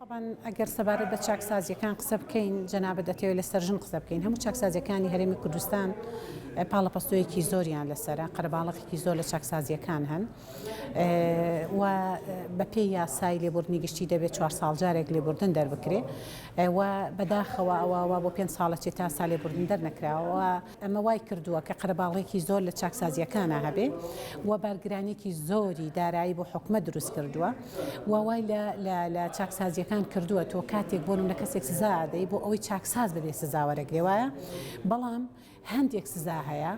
تەبعەن ئەگەر سەبارەت بە چاکسازییەکان قسە بکەین، جەنابت دەتەوێت لەسەر ژن قسە بکەین، هەموو چاکسازییەکانی هەرێمی کوردستان پاڵەپەستۆیەکی زۆریان لەسەرە، قەرەباڵەخێکی زۆر لە چاکسازییەکان هەن و بەپێی یاسای لێبوردنی گشتی دەبێت چوار ساڵ جارێک لێبوردن دەربکرێ و بەداخەوە ئەوە وا بۆ پێنج ساڵە چێ تا سا لێبوردن دەرنەکراوە. ئەمە وای کردووە کە قەرەباڵغیەکی زۆر لە چاکسازییەکانا هەبێ و بارگرانیەکی زۆری دارایی بۆ حکومەت دروست کردووە و وای لە چاکسازییەکان کردووە تۆ کاتێک بۆن لە کەسێک سزا دەی بۆ ئەوەی چاکساز ببێ سزاوەرەگرێ وایە بەڵام هەندێک سزا هەیە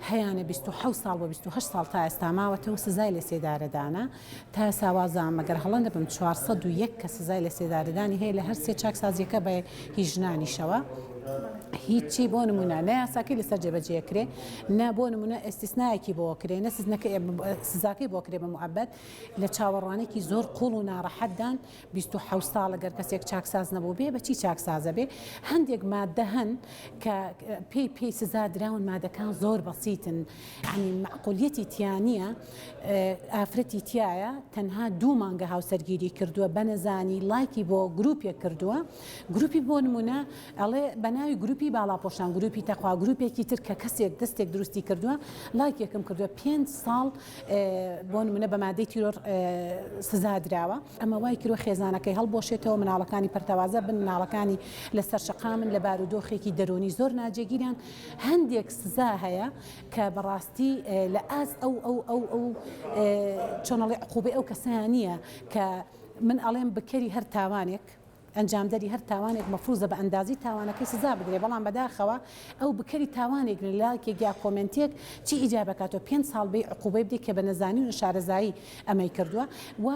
هەیەە 26 ساڵ بە 28 ساڵ تا ئێستا ماوەتەوە سزای لە سێدارەدانە تا ساوازە مەگەر هەڵە نەبم چوار سەد و یەک کەس سزای لەسێدارەدانی هەیە لە هەر سێ چاکسازییەکە بە هی ژنانیشەوە هیچی بۆ نمونە نە یاساکەی لەسەر جێبەجێ کرێ نە بۆ نمونە ئێستیسنایەکی بۆ کرێ نە سزنەکە سزاکەی بۆ کرێ بە معبەت لە چاوەڕوانێکی زۆر قوڵ و ناڕەحەتدان بیست و حەوت ساڵ گەر کەسێک چاکساز نەبووبێ بە چی چاکسازە بێ هەندێک ماددە هەن کە پێی پێی سزا دراون مادەکان زۆر بەسیتن عنی معقولیەتی تیانە ئافرەتی تایە تەنها دوو مانگە هاوسەرگیری کردووە بەنەزانی لایکی بۆ گروپێک کردووە گروپی بۆ نمونە ئەڵێ بەناوی گروپی باڵاپۆشان گروپی تەخوا گروپێکی تر کە کەسێک دەستێک دروستی کردووە لایکێکم کردووە پێنج ساڵ بۆ نمونە بە مادەی تیرۆر سزا دراوە ئەمە وای کردووە خێزانەکەی هەڵبوەشێتەوە، مناڵەکانی پەرتەوازە بن، مناڵەکانی لەسەر شەقامن، لە بارودۆخێکی دەروونی زۆر ناجێگیرن، هەندێک سزا هەیە کە بەڕاستی لە ئاست ئەو ئەو ئەو ئەو چۆنەڵێ عقوبەی ئەو کەسەیان نییە کە من ئەڵێم بکەری هەر تاوانێک، ئەنجامدەری هەر تاوانێک مەفروزە بە ئەندازەی تاوانەکەی سزا بدرێت، بەڵام بەداخەوە ئەو بکەری تاوانێک لە لایکێک یا کۆمێنتێک چی ئیجاب ئەکات تۆ پێنج ساڵ بێی عقوبەی بدەی کە بە نەزانی و نەشارەزایی ئەمەی کردوە و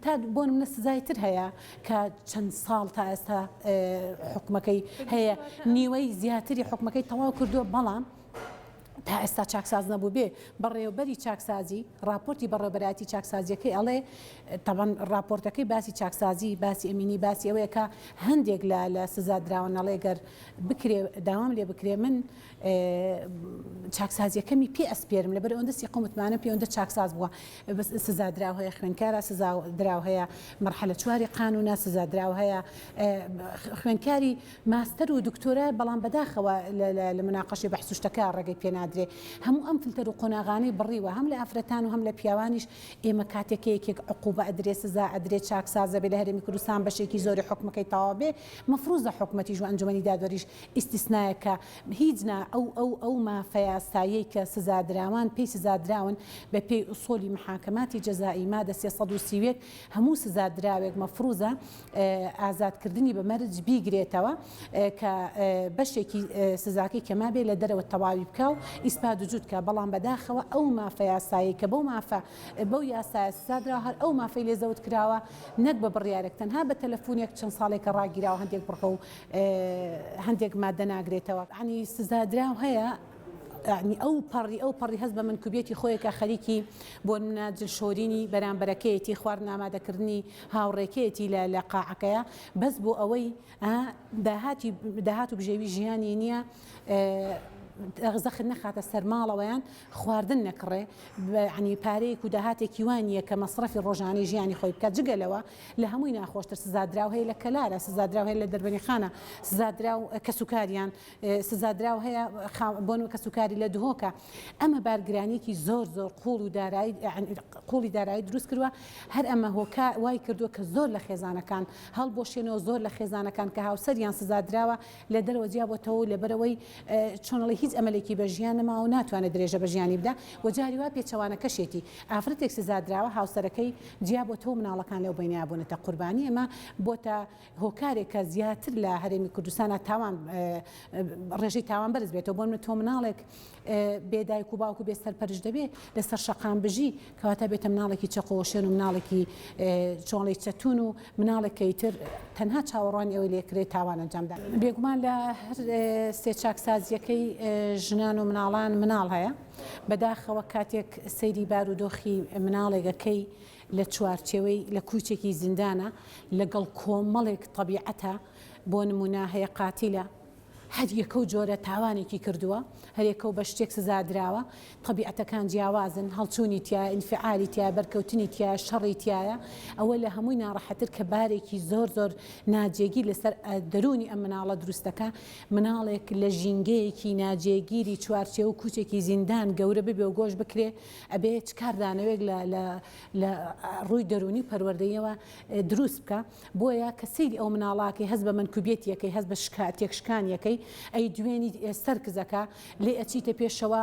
تا بۆ نمونە سزای تر هەیە کە چەند ساڵ تا ئێستا حوکمەکەی هەیە نیوەی زیاتری حوکمەکەی تەواو کردوە بەڵام تا ئێستا چاکساز نەبووبێ بەڕێوەبەری چاکسازی ڕاپۆرتی بەڕێوەبەرایەتی چاکسازیەکەی ئەڵێ تەبەن ڕاپۆرتەکەی باسی چاکسازی باسی ئەمینی باسی ئەوەیە کە هەندێک لە لە سزا دراوە نەڵێ گەر بکرێ داوام لێ بکرێ من چاکسازیەکەمی پێ ئەسپێرم لەبەر ئەوەندە سیقە متمانە پێوەندە چاکساز بووە سزا دراو هەیە خوێنکارە سزا دراو هەیە مەرحەلە چواری قانونە سزا دراو هەیە خوێنکاری ماستەر و دکتۆرایە بەڵام بەداخەوە لە مناقەشەی بەحس و شتەکە ڕێگەی پێ نادرێ هەموو ئەم فلتەر و قۆناغانەی بڕیوە هەم لە ئافرەتان و هەم لە پیاوانیش ئێمە کاتێ کە یەکێک عقوبە ئەدرێ سزا ئەدرێ چاکساز ئەبێ لە هەرێمی کوردستان بەشێکی زۆری حوکمەکەی تەواو بێ مەفروزە حکومەتیش و ئەنجومەنی دادوەریش ئیستیسنایە کە هیچ نا ئەو ئەو ئەو مافە یاساییەی کە سزادراوان پێی سزادراون بە پێی ئوسولی محاکماتی جزائی مادە سێ سەد و سی و یەک هەموو سزادراوێک مەفروزە ئازادکردنی بە مەرج بیگرێتەوە کە بەشێکی سزاکەی کە مابێ لە دەرەوە تەواوی بکە و ئیسپا دوجود کە بەڵام بەداخەوە ئەو مافە یاسایی کە بەو مافە بەو یاسایە سزادرا هەر ئەو مافەی لێ زەوت کراوە نەک بە بڕیارێک تەنها بە تەلەفۆنێک چەند ساڵێکە ڕاگیراوە هەندێک بڕگە و هەندێک مادە ناگرێتەوە عنی سزادراو هەیە ینی ئەو پەڕی ئەو پەڕی هەز بە منکوبیەتی خۆیەکە خەریکی بۆ منە جلشۆرینی بەرامبەرەکەیەتی خوارد نامادەکردنی هاوڕێکەیەتی لە لە قاعەکەیا بەس بۆ ئەوەی ئا داهاتی داهات و بژێوی ژیانی نییە زەخت نەخاتە سەر ماڵەوەیان خواردن نەکڕێ عنی پارەیەک و داهاتێکی وانە کە مەصرفی ڕۆژانەی ژیانی خۆی بکە جگەلەوە لە هەمووی ناخۆشتر سزادراو هەیە لە کەلارە سزادراو هەیە لە دەربەنیخانە سزادراو کەسوکاریان سزادراو هەیە بۆن کەسوکاری لە دهۆکە ئەمە بارگرانیکی زۆر زۆر قوڵ و دارایی قوڵی دارایی دروست کردوە هەر ئەمە هۆکە وای کردووە کە زۆر لە خێزانەکان هەڵ بۆ شوێنەوە زۆر لە خێزانەکان کە هاوسەریان سزادراوە لە دەرەوە جیابەتەوە و لەبەرەوەی چۆنڵی هیچ ئەمەلێکی بە ژیان نەما و ناتوانێت درێژە بە ژیانی بدا و جاری وا پێچەوانە کەشێتی ئافرەتێک سزادراوە هاوسەرەکەی جیابەتەوە مناڵەکان لەو بینابوونەتە قوربانی ئەمە بۆتە هۆکارێکە زیاتر لە هەرێمی کوردستانا تاوان ڕێژەی تاوان بەرز بێتەوە بۆ منە تۆ مناڵێک بێ دایک و باوکو بێ سەرپەرش دەبێ لەسەر شەقام بژی کەواتە بێتە مناڵێکی چەقۆشێن و مناڵێکی چۆڵی چەتون و مناڵێکی تر تەنها چاوەڕوانی ئەوەی لێکرێت تاوان ئەنجامدا بێگومان لە هەر سێ چاکسازیەکەی ژنان و مناڵان مناڵ هەیە بەداخەوە کاتێک سەیری بارودۆخی مناڵێگەکەی لە چوارچێوەی لە کوچێکی زیندانە لەگەڵ کۆمەڵێک تەبیعەتە بۆ نمونە هەیە قاتیلە هەر یەکەو جۆرە تاوانێکی کردووە هەرێکەو بە شتێک سزادراوە تەبیعەتەکان جیاوازن هەڵچوونی تایە ئینفعالی تایە بەرکەوتنی تایە شەڕی تایە ئەوە لە هەمووی ناڕەحەتر کە بارێکی زۆر زۆر ناجێگیر لەسەر دەروونی ئەم مناڵە دروستەکە مناڵێک لە ژینگەیەکی ناجێگیری چوارچێوە کوچێکی زیندان گەورە ببێ و گۆش بکرێ ئەبێ چ کاردانەوەیەک لە لە لە ڕووی دەروونی و پەروەردەییەوە دروست بکا، بۆیە کە سەیری ئەو مناڵە کەی هەست بە مەنکوبیەتی ئەکەی هەست بە شکا تێکشکانی ئەکەی ئەی دوێنیت ئێ سەرکز ئەکا لێ ئەچیتە پێشەوە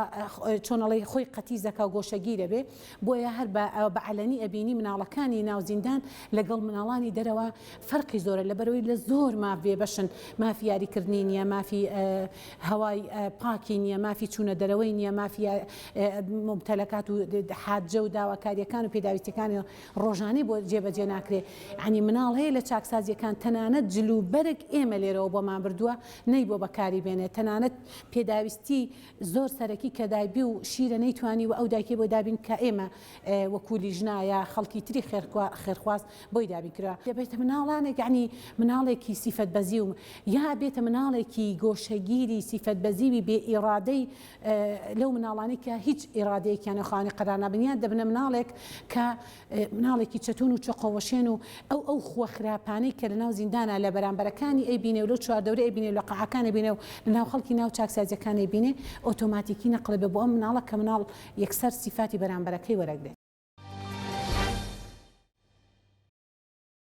چۆن ئەڵێی خۆی قەتیس ئەکا و گۆشەگیر ئەبێ بۆیە هەر بە بە عەلەنی ئەبینی مناڵەکانی ناو زیندان لەگەڵ مناڵانی دەرەوە فەرقی زۆرە لەبەرئەوەی لە زۆر ماف بێبەشن مافی یاریکردنی نییە مافی هەوای پاکی نیە، مافی چوونە دەرەوەی نیە، مافی مومتەلەکات و حاجە و داواکاریەکان و پێداویستیەکانی ڕۆژانەی بۆ جێ بە جێ ناکرێ، یانی مناڵ هەیە لە چاکسازیەکان تەنانەت جل و بەرگ ئێمە لێرەوە بۆمان بردووە نەی بۆ بەکاری بێنێ، تەنانەت پێداویستی زۆر سەرەکی کە دایبی و شیرە نەیتوانیوە ئەو دایکەی بۆ دابین کە ئێمە وەکو لیژنا یا خەڵکی تری خێرخواز بۆی دابین کرا. یا بێتە مناڵانێک یەعنی مناڵێکی سیفەت بەزیو یا بێتە مناڵێکی گۆشەگیری سیفەت بەزیوی بێ ئیڕادەی لەو مناڵانەی کە هیچ ئیڕادەیەکیان و خاوەنی قەرار نابن یان دەبنە مناڵێک کە مناڵێکی چەتون و چەقۆوەشێن و ئەو ئەو خووە خراپانەی کە لەناو زیندانا لە بەرامبەرەکانی ئەیبینێ و لەو چواردەورە ئەیبینێ و لە قەعەکان ئەیبینێ و لەناو خەڵکی ناو چاکسازیەکان ئەیبینێ ئۆتۆماتیکی نەقڵ ئەبێ بۆ ئەم مناڵە کە مناڵ یەکسەر سیفاتی بەرامبەرەکەی وەرەگرێت.